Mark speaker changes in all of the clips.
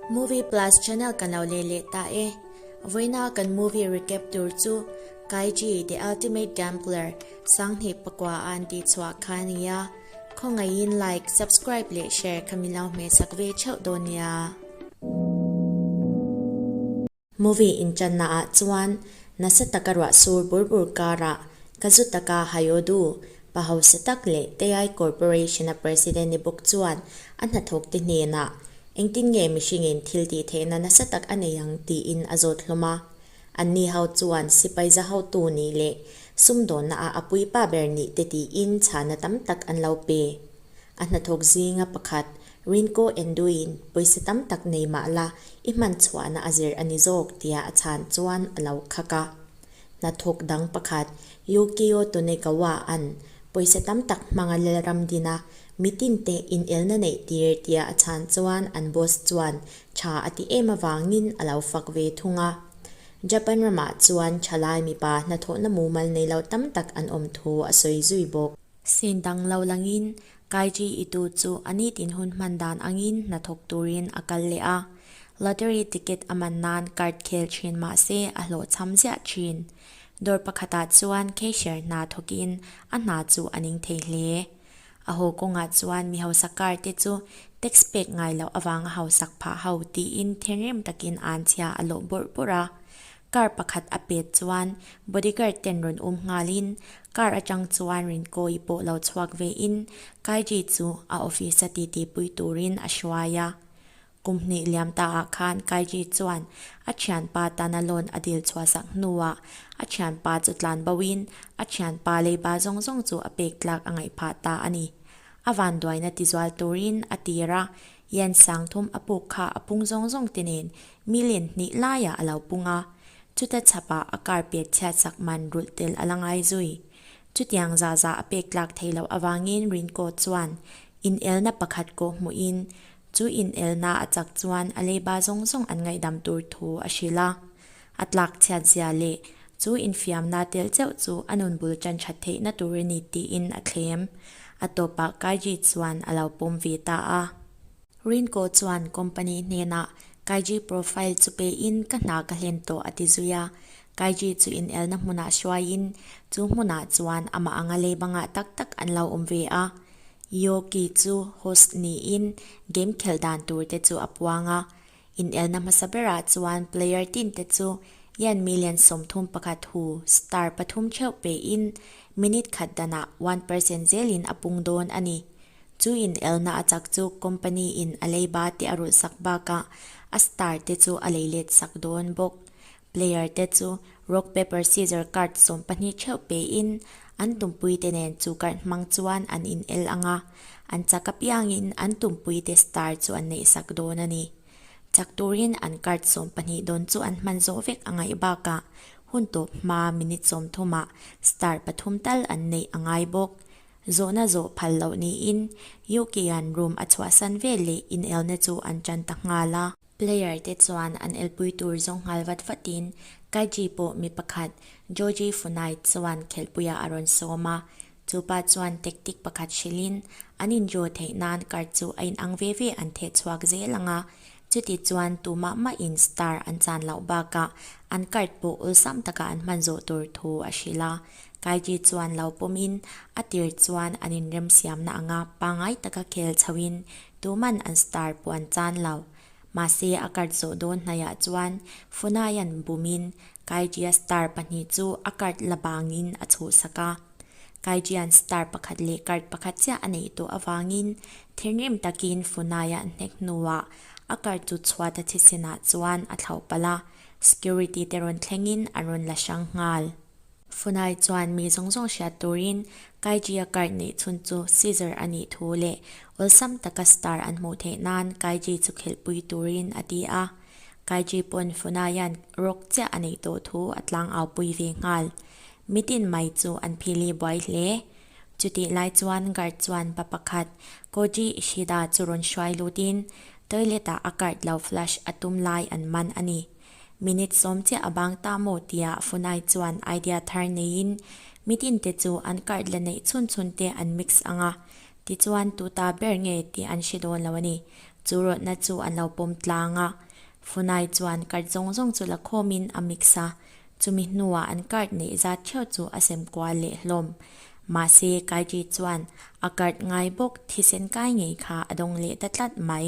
Speaker 1: Movie Plus channel kan lo leh leh ta e. Vawiinaa kan movie recap tur chu Kaiji The Ultimate Gambler sanghnih pakua a an tih chhuah kha a ni a, khawngaihin like, subscribe leh share kha min lo hmeh sak ve theuh dawn nia. Movie inchanna ah chuan nasa taka ruahsur bur bur karah ka zu taka Hayodu pahause tak leh Tei Corporation a President i bawk chuan a hnathawk te hnenah Engtin nge mihringin thil tih theihna nasa tak a nei ang tiin a zawt hlawm a, an ni ho chuan sipai zahotu nih leh sumdawnna ah a puipa ber nih te tiin chhana tam tak an lo pe. A hnathawk zinga pakhat Rinko Enduin, Pawisa tam tak nei mah la, i hman chhuahna a zir a ni zawk, tiah a chhan chuan a lo khak a. Hnathawk dang pakhat, Yukio Tonegawa an, Pawisa tam tak hmanga lelram dina, mitin te inelna neih tir, tiah a chhan chuan an boss chuan tha a ti em avangin a lo fak ve thung a. Japan ramah chuan thalai mipa hnathawhna mumal nei lo tam tak an awm thu a sawi zui bawk. Sin dang lo langin Kaiji i tu chu a ni tin hun hman dan angin hnathawk turin a kal leh a. Lottery ticket a man nan card khel thin mahse a hlawh chham ziah thin. Dawr pakhatah chuan cashier hna thawkin a hna chu a ning thei hle. A haw kawngah chuan mi hausa kar te chu tax pek ngai loh avanga hausak phah ho tiin thinrim takin an chhia a lawh bawrh bawrh a. Car pakhat a pet chuan bodyguard ten rawn um nghal in car atang chuan Rinkaw i pawh lo chhuak ve in Kaiji chu a office a titi pui tur in a hruai a. Kum hnih liam ta ah khan Kaiji chuan a thianpa tan a loan a dil chhuahsak hnu ah a thianpa chu tlan bo in a thianpa leiba zawng zawng chu a pek tlak a ngaih phah ta a ni. A vanduaina tizual tur in a tir a Yan Sangthum a puk kha a pung zawng zawng te nen million hnih laiah a lo pung a, chuta chhapa a kar pek chhiat sak man rulh tel a la ngai zui. Chutiang za za a pek tlak thei loh avangin Rinkawt chuan inelna pakhat kawh hmuhin chu inelna a chak chuan a leiba zawng zawng an ngaihdam tur thu a hrilh a. A tlak chhiatzia leh chu infiamna tel cheuh chu a nun bul tan tha theihna tur a ni tiin a thlem. A tawpah Kaiji chuan a lo pawm ve ta a. Rinko chuan company hnenah Kaiji profile chu pein ka hna ka hlen tawh a ti zui a. Kaiji chu inelna hmunah hruaiin chu hmunah chuan amah anga lei banga tak tak an lo awm ve a. Yoki chu host niin game khelh dan turte chu a puang a. Inelna hmasa berah chuan player team te chu Ian million sawmthum pakhat hu star pathum theuh pehin minute khat danah one percent zelin a pung dawn a ni. Chu inelna a chak chu company in a leiba te a rulhsak bakah a star te chu a leiletsak dawn bawk. Player te chu rock paper scissor card sawm pahnih theuh pein an tumpui te nen chu karh hmang chuan an in el ang a, an chak apiangin an tumpui te star chu an neih sak dawn a ni. Chak turin an card sawm pahnih dawn chu an hman zawh vek angaih bakah hun tawp hma minute sawm thuma star pathum tal an neih angai bawk. Zawhna zawh phal loh niin UK-an room a chhuahsan vel leh inelna chu an tan ta nghal a. Player te chuan an elpui tur zawng nghal vat vatin Kaiji pawh mi pakhat Joji Funai chuan khelpuiah a rawn sawm a, chu pa chuan tactic pakhat hrilhin an in draw theih nan card chu a in ang ve ve an theh chhuak zel ang a, chuti chuan tu mah mah in star an chan loh bakah an card pawh awlsam taka an hman zawh tur thu a hrilh a, Kaiji chuan lo pawmin a tir chuan an in remsiamna ang a, pangai taka khel chhoin Tuman an star pawh an chan lo. Mahse a card zawh dawn hnaiah chuan Funaia'n bumin Kaiṭia star pahnih chu a card la bangin a chhuhsak a. Kaiṭia'n star pakhat leh card pakhat chiah a neih tawh avangin thinrim takin Funaia hnek hnuah a card chu chhuat a chhi sinah chuan a thlauh palh a, security te rawn thlengin an rawn la hrang nghal. Funai chuan mi zawng zawng hriat turin Kaijia karh neih chhun chu Caesar a nih thu leh awlsam taka star an hmuh theih nan Kaiji chu khelhpui turin a ti a. Kaiji pawn Funaia'n rawk chiah a neih tawh thu a tlang aupui ve nghal. Mitin mai chu an phil i buai hle. Chutih lai chuan guard chuan pa pakhat Koji Ishida chu rawn hruai lutin toilet-ah a karh lo flush a tum lai an man a ni. Minute sawm chiah a bang ta maw tiah Funai chuan idea thar neiin, Mitin te chu an card la neih chhun chhun te an mix ang a, tichuan tu ta ber nge tih an hre dawn lo a ni. Chu rawtna chu an lo pawm tlang a, Funai chuan card zawng zawng chu la khawmin a mix a, chumi hnuah an card neih zat theuh chu a sem kual leh hlawm. Mahse, Kaiji chuan a card ngai bawk, thisen kai ngei kha a dawng leh ta tlat mai.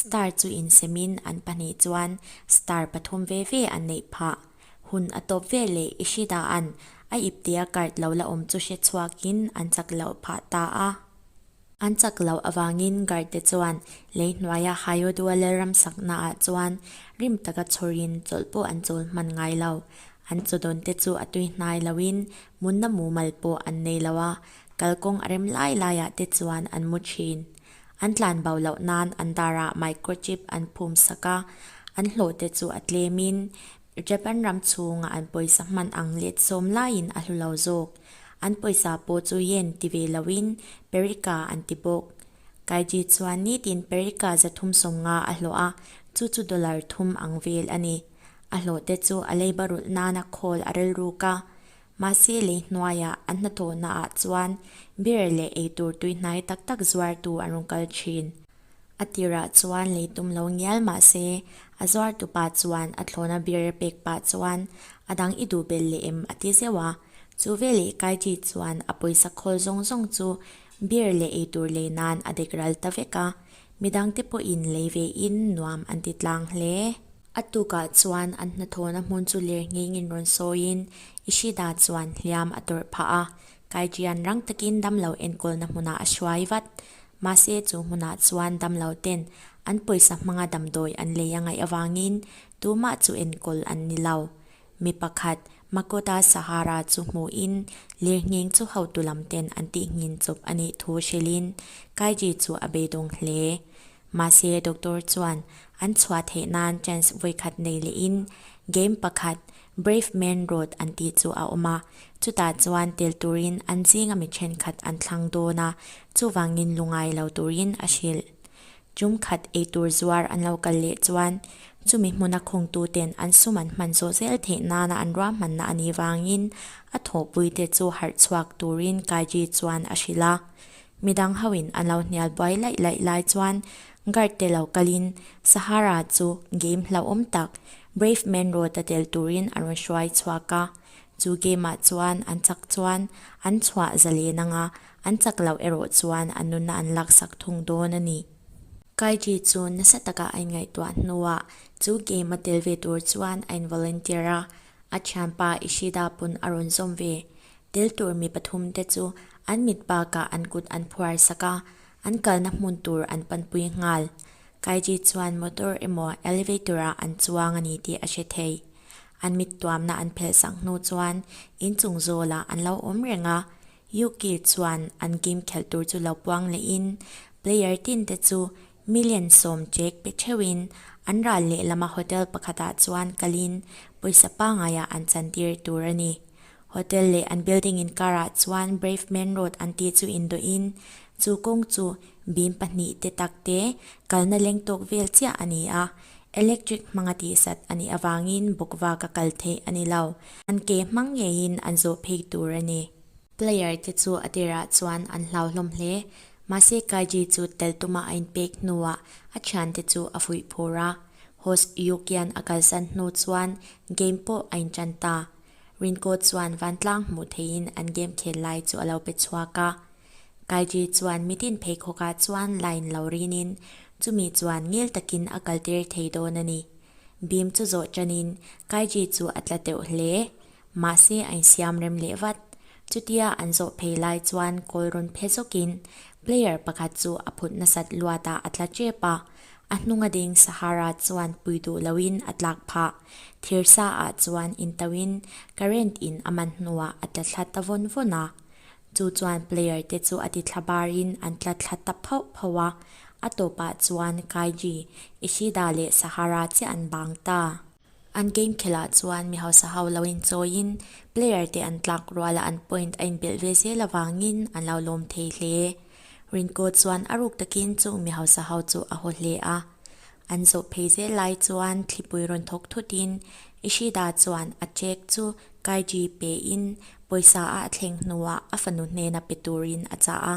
Speaker 1: Star chu insemin an pahnih chuan star pathum ve ve an neih phah. Hun a tawp ve leh i hri dah an, a ip tia kart lo la awm chu hre chhuakin an chak loh phah ta a. An chak loh avangin guard te chuan lei hnuaia haio duala ram sakna ah chuan rim taka chhurin chawlh pawh an chawl hman ngai lo. An chaw dawn te chu a tui hnai loin munna mumal pawh an nei lo a, kalkawng a rem lai lai ah te chuan an mu thin. An tlan bau loh nan an darah microchip an phumsak a, an hlawhte chu a tlemin Japan ram chhunga an pawisa hman ang let sawm laiin a hlu lo zawk. An pawisa pawh chu yen ti ve loin Perica an ti bawk. Kaiji chuan nitin Perica za thum sawmnga a hlawh a, chu chu dollar thum ang vel a ni. A hlawhte chu a leiba rulh nana khawl a relruk a, Mahse lei hnuaia a hnathawhna ah chuan beer leh ei tur tuihnai tak tak zuartu an rawn kal thin. A tirah chuan lei tum lo ngial mahse a zuartu pa chuan a thlawna beer pek pah chuan a dang i duh bel leh em a ti zeuh a. Chu veleh Kaidi chuan a pawisa khawl zawng zawng chu beer leh ei tur lei nan a dek ral ta vek a, Midang te pawhin lei ve in nuam an ti tlang hle. A tukah chuan an hnathawhna hmun chu lir ngheng in rawn sawi in Ishida chuan hliam a tawrh phah a, kai tian rang takin damlo enkawlna hmunah a hruai vat. Mahse chu hmunah chuan damlo ten an pawisa hmanga damdawi an lei a ngaih avangin tumah chu enkawl an ni lo. Mi pakhat, Makoda Sahara chu hmuhin, lirnghing chu hotu lamten an tihngin chawp a nih thu hrilhin, Kaiji chu a beidawng hle. Mahse, doctor chuan, An chhuah theih nan chance vawikhat nei lehin, game pakhat, Brave Man Road an tih chu a awm a, chutah chuan tel turin an zinga mi thenkhat an thlang dawn a, chuvangin lungai lo turin a hrilh. Chung khat ei tur zuar an lo kal leh chuan chumi hmuna khawngtu ten an sum an hman zawh zel theih nana an ruahmanna a nih vangin a thawhpui te chu harh chhuak turin Kaiji chuan a hrilh a. Mi dang hoin an lo hnial buai laih laih lai chuan guard te lo kalin Sahara chu game hlauhawm tak Brave Man Road a tel turin a rawn hruai chhuak a. Chu game ah chuan an chak chuan an chhuah zalen anga An chak loh erawh chuan a nuna an laksak thung dawn a ni. Kaiji chu nasa taka a inngaihtuah hnuah chu game a tel ve tur chuan a involunteer a, a thianpa Ishida pun a rawn zawm ve. Tel tur mi pathum te chu an mit bakah an kut an phuarsak a, an kalna hmun tur an panpui nghal. Kaiji chuan motor emaw elevator ah an chuang a ni tih a hre thei. An mittuamna an phelhsak hnu chuan inchung zawlah an lo awm reng a, UK chuan an game khelh tur chu lo puang leh in player tin te chu million sawm chek pe theu in an ral leh lam a hotel pakhat ah chuan kal in pawisa pangai ah an chan tir tur a ni. Hotel leh an building in kar ah chuan Brave Men Road an tih chu indawh in chu kawng chu bim pahnih te tak te kalna leng tawk vel chiah a ni a, electric hmanga tihsat a nih avang in bawk vak a kal theih a ni lo. An ke hmang ngeiin an zawh phei tur a ni. Player te chu a tirah chuan an hlauhlawm hle. Mahse Kaiji chu tel tuma a inpek hnuah a thian te chu a fuih phur a, Host Yukian a kalsan hnu chuan game pawh a intan ta. Rinko chuan vantlang hmuh theihin an game khel lai chu a lo pe chhuak a. Kaiti chuan mitin pheikhawkah chuan line lo riinin chumi chuan ngil takin a kaltir thei dawn a ni. Bim chu zawh tanin Kaiti chu a tla teuh hle, mahse a insiam rem leh vat. Chutia an zawh phei lai chuan kawlrawn phe zawkin player pakhat chu a phut nasat luatah a tla tep a, a hnunga ding Sahara chuan pui duh loin a tlak phah. Thirsa-ah chuan in toin current in a man hnuah a tla thla ta vawn vawn a, Chu chuan player te chu a ti thla bar in an tla thla ta phauh phauh a, a tawp ah chuan Kaiji, Ishida leh Sahara chiah an bang ta. An game khel ah chuan mi hausa ho lo in chawi in player te an tlak rual a an point a in belh ve zel avang in an lo lawm thei hle. Rinko chuan a ruk tak in chung mi hausa ho chu a haw hle a, an zawh phei zel lai chuan thlipui rawn thawk thut in Ishida chuan a check chu Kaiji pe in Pawisa a a thleng hnuah a fanu hnena pe turin a chah a,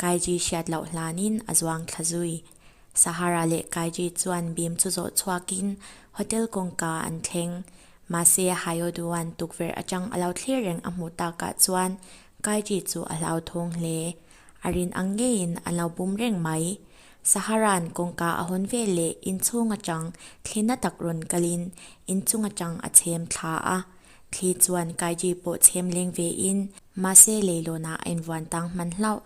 Speaker 1: Kaiji hriat loh hlanin a zuang thla zui. Sahara leh Kaiji chuan bim chu zawh chhuakin hotel kawngka an thleng. Mahse, Hayoduan tukverh atang a lo thlir reng a hmuh takah chuan Kaiji chu a hlauthawng hle. A rin ang ngeiin an lo bum reng mai. Sahara'n kawngka a hawn vel leh inchhung atang thlin a tak rawn kalin inchung atang a chhem thla a. Thli chuan Kaiji pawh chhem leng ve in, mahse leilawnah a invuan tang hman hlauh.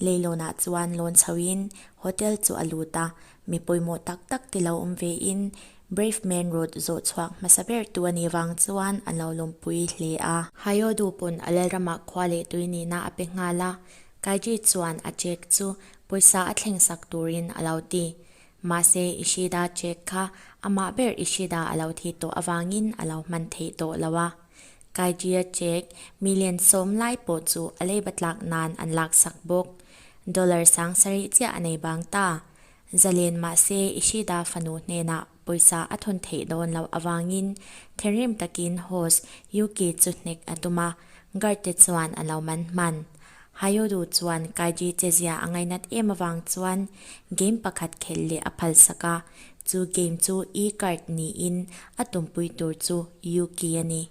Speaker 1: Leilawnah chuan lawn chho in hotel chu a lut a, mi pawimawh tak tak te lo awm ve in, Brave Main Road zawh chhuak hmasa ber tu a nih vang chuan an lo lawmpui hle a. Hayodu pawn a lalramah khua leh tui nihna a pe nghal a, Kaiji chuan a cheque chu pawisa a thlengsak turin a lo ti. Mahse, Ishida Jack kha amah ber Ishida a lo thi tawh avangin a lo hman theih tawh lo a. Kaijia Jack mi len sawm lai pawh chu a lei ba tlak nan an lak sak bawk. Dollar sang sarih chiah a nei bang ta. Zalen mahse Ishida fanu hnenah pawisa a thun theih dawn loh avangin thinrim takin Host Yuki chu hnek a tum a, guard te chuan an lo man hman. Hayodu chuan Kaiji Chezia a ngainat em avang chuan game pakhat khelh leh a phalsak a, chu game chu E-card niin a tumpui tur chu Yuki a ni.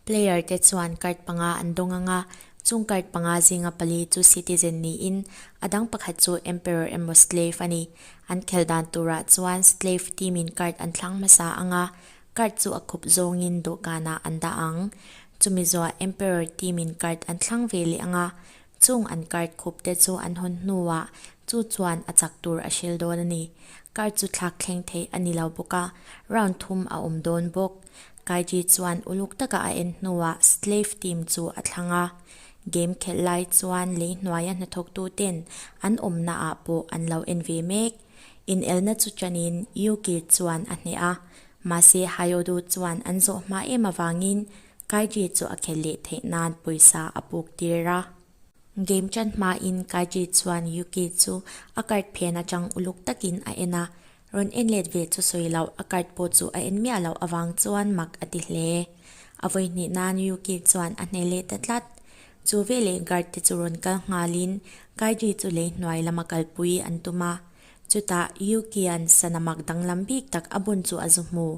Speaker 1: Player te chuan card panga an dawng ang a, chung card panga zinga pali chu citizen niin a dang pakhat chu emperor emaw slave a ni. An khel dan turah chuan slave team in card an thlang hmasa ang a, Card chu a khup zawngin dawhkanah an dah ang. Chumi zawha Emperor team in card an thlang ve leh ang a, chung an card khup te chu an hawn hnuah chu chuan a chak tur a hrilh dawn a ni. Card chu thlak thleng theih a ni lo bawk a, round thum a awm dawn bawk. Kaiji chuan uluk taka a en hnuah Slave team chu a thlang a. Game khelh lai chuan lei hnuaia hnathawktu ten an awmnaah pawh an lo en ve mek. Inelna chu chanin Yu Kid chuan a hneh a. Mahse, Hayodu chuan an zawh hma em avangin Kaiji chu a khelh leh theih nan pawisa a puk tir a. Game chan hmain Kaiji chuan Yuki chu a card phian atang uluk takin a en a, rawn en let ve chu sawi loh, a card pawh chu a en miah loh avang chuan mak a ti hle. A vawi hnih nan Yuki chuan a hneh leh ta tlat. Chu veleh guard te chu rawn kal nghalin Kaiji chu lei hnuai lama kalpui an tum a, Chutah Yukian sanamak danglam bik tak a bun chu a zu hmu.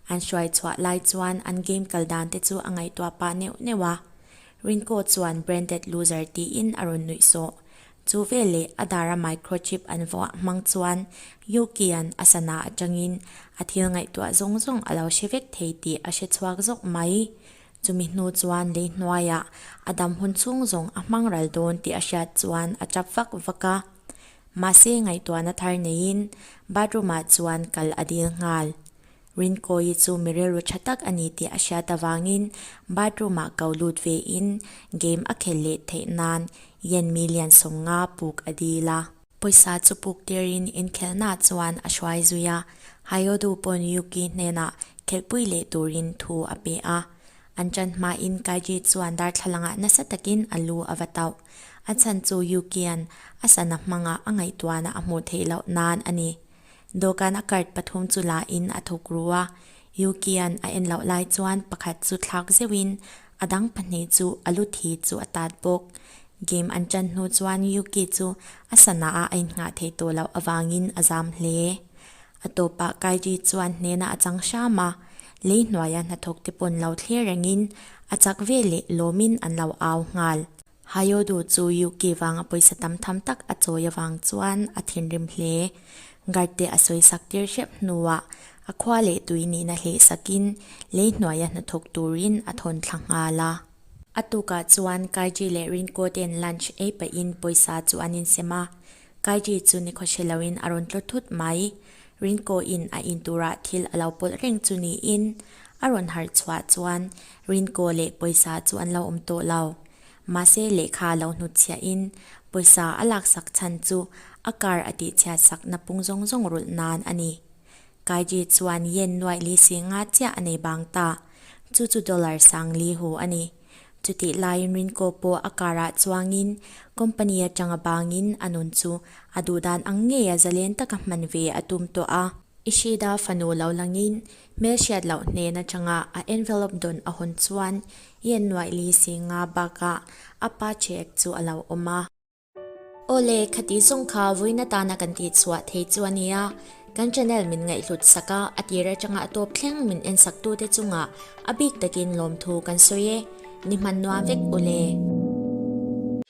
Speaker 1: An hruai chhuah lai chuan an game kal dan te chu a ngaihtuah pah neuh neuh a. Rinko chuan branded loser tiin a rawn nuih sawh. Chu veleh a dara microchip an vuah hmang chuan Yukian a sana atangin a thil ngaihtuah zawng zawng a lo hre vek thei tih a hre chhuak zawk mai. Chumi hnu chuan lei hnuaiah a dam hun chhung zawng a hmang ral dawn tih a hriat chuan a tap vak vak a. Mahse ngaihtuahna thar neiin bathroom ah chuan kal a dil nghal. Rinkawi chu mi rilru tha tak a ni tih a hriat avangin bathroom ah kau lut ve in game a khel leh theih nan Yanmi lian sawm nga puk a dil a. Pawisa chu puk tirin inkhelhnaah chuan a hruai zui a, Hayodu pawn Yuki hnenah khelhpui leh turin thu a pe a. An ṭan hmain Kaiji chuan darthlalangah nasa takin a lu a va tauh. A chhan chu Yuki-a'n a sana hmanga a ngaihtuahna a hmuh theih loh nan a ni. Dawhkan a kart pathum chu la in a thawk ru a, Yukian a en loh lai chuan pakhat chu thlak zeuh in a dang pahnih chu a lu thi chu a tat bawk. Game an tan hnu chuan Yuki chu a sana a a in nghah thei tawh loh avang in a zam hle. A tawp ah Kairi chu an hnen a a chang hram a, lei hnuai a hnathawk te pawn lo thler reng in a chak vel leh lawm in an lo au nghal. Hayodu chu UK vanga pawisa tam tham tak a chawi avang chuan a thinrim hle. Guard te a sawisak tir hriap hnuah a khua leh tui nihna hleh sakin lei hnuaia hnathawk turin a thawn thla nghal a. A tukah chuan Kaiji leh Rincoten lunch ei pahin pawisa chu an insem a. Kaiji chu ni khawhre loin a rawn tlaw thut mai. Rincoin a in turah thil a lo pawlh reng chu niin a rawn harh chhuah chuan Rinkaw leh pawisa chu an lo awm tawh lo. Mahse lehkha lo hnutchhiahin pawisa a laksak chhan chu a kar a tihchhiat sakna pung zawng zawng rulh nan a ni. Kaiji chuan yen nuaih li si nga chiah a nei bang ta, chu chu dollar sang li hu a ni. Chutih laiin Rinkaw pawh a karah chuangin company atanga bangin a nun chu a duh dan ang ngei a zalen taka hman ve a tum tawh a. Ishida fanu lo langin hmel hriat loh hnen atanga a envelope dawn a hun chuan i en nuaih li si nga bakah a pa cheque chu a lo awm a. Aw le, khati zawng kha vawiin atana kan tih chhuah thei chu a nia, kan channel min ngaihhlut sak a, a tir atanga a tawp thleng min en saktute chungah a bik takin lawmthu kan sawi e, ni hman nuam vek u le.